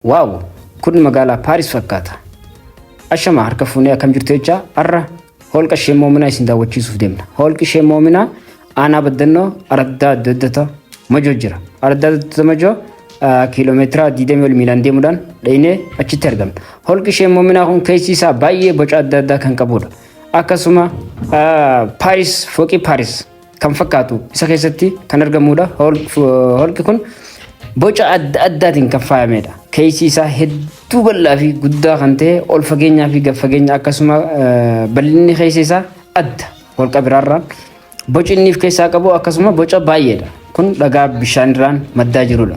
Waaw! Kun magaalaa Paaris fakkaata. Ashama harka fuunee akkam jirtu jechaa har'a holqa ishee moominaa isin daawwachiisuuf deemna. Holqi ishee moominaa aanaa baddannoo araddaa adda addata majoo jira. Araddaa adda addata majoo kiiloomeetira 20 ol miilaan deemuudhaan dhaynee achitti argamna. Holqi ishee moominaa kun keessi isaa baay'ee boca adda addaa kan qabudha. Akkasuma Paaris fooqii Paaris kan fakkaatu isa keessatti kan argamudha. Holqi kun boca adda addaatiin kan faayamedha. Keessi isaa hedduu bal'aa fi guddaa kan ta'e ol fageenyaa fi gad fageenya akkasuma bal'inni keessa isaa adda holqa biraarraa. Boci inni of keessaa qabu akkasuma boca baay'eedha. Kun dhagaa bishaanirraan maddaa jirudha.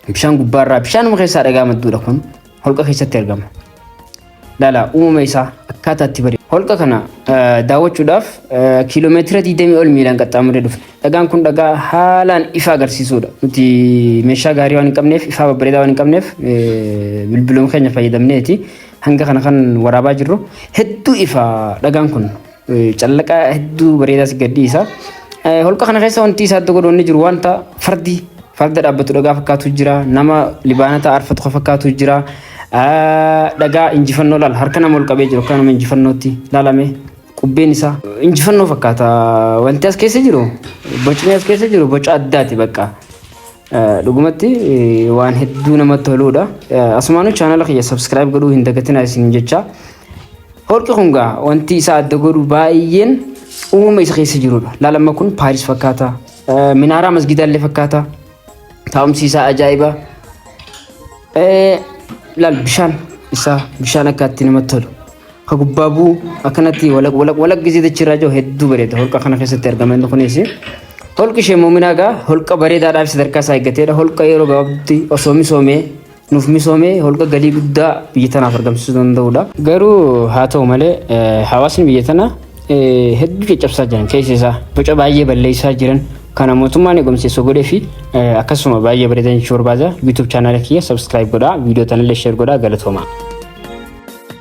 Bishaan gubbaarraa bishaanuma keessaa dhagaa madduudha kun. holqa keessatti argama. Dhala uumama isaa akkaataa itti bari. Holqa kana daawwachuudhaaf kiiloomeetira 20 ol miilaan qaxxaamuree dhufe. Dhagaan kun dhagaa haalaan ifa agarsiisudha. Nuti meeshaa gaarii waan hin qabneef, ifaa babbareedaa waan hin qabneef bilbiluma keenya fayyadamneeti hanga kana kan waraabaa jirru. Hedduu ifa dhagaan kun. Callaqaa hedduu bareedaa si gadhiisa. Holqa kana keessa wanti isaa adda godhu inni jiru wanta fardi farda dhaabbatu dhagaa fakkaatu jira. Nama libaanata arfatu kan fakkaatu jira. Dhagaa injifannoo laala harka nama ol qabee jiru akka nama injifannootti laalame qubbeen isaa injifannoo fakkaata. Wanti as keessa jiru bocni as keessa jiru boca addaati bakka. Dhugumatti waan hedduu namatti toluudha. Asumaanuu chaanala kiyya subscribe godhuu hin dagatinaa isin jecha. Holqi kun gaa wanti isaa adda godhu baay'een uumama isa keessa jirudha. Laalamma kun Paaris fakkaata. Minaaraa masgiidaa illee fakkaata. Taa'umsi isaa ajaa'iba. Laal bishaan isaa bishaan akka itti namatti tolu. Ka gubbaa bu'u akkanatti walaq walaq walaq gisee dachii irraa jiru hedduu bareeda. Holqa kana keessatti argama inni kunis. Holqi ishee muuminaa egaa holqa bareedaadhaa fi sadarkaa isaa eeggateedha. Holqa yeroo gabaabduutti osoo misoomee nuuf misoomee holqa galii guddaa biyya tanaaf argamsiisuu danda'udha. Garuu haa ta'u malee eh, hawaasni biyya tanaa eh, hedduu caccabsaa jiran keessa isaa boca baay'ee balleessaa jiran kana mootummaan eegumsa isa godhee fi eh, akkasuma baay'ee bareedan jechuu barbaada. YouTube chaanaala kiyya subscribe godhaa, viidiyoo tanallee share godhaa galatoomaa.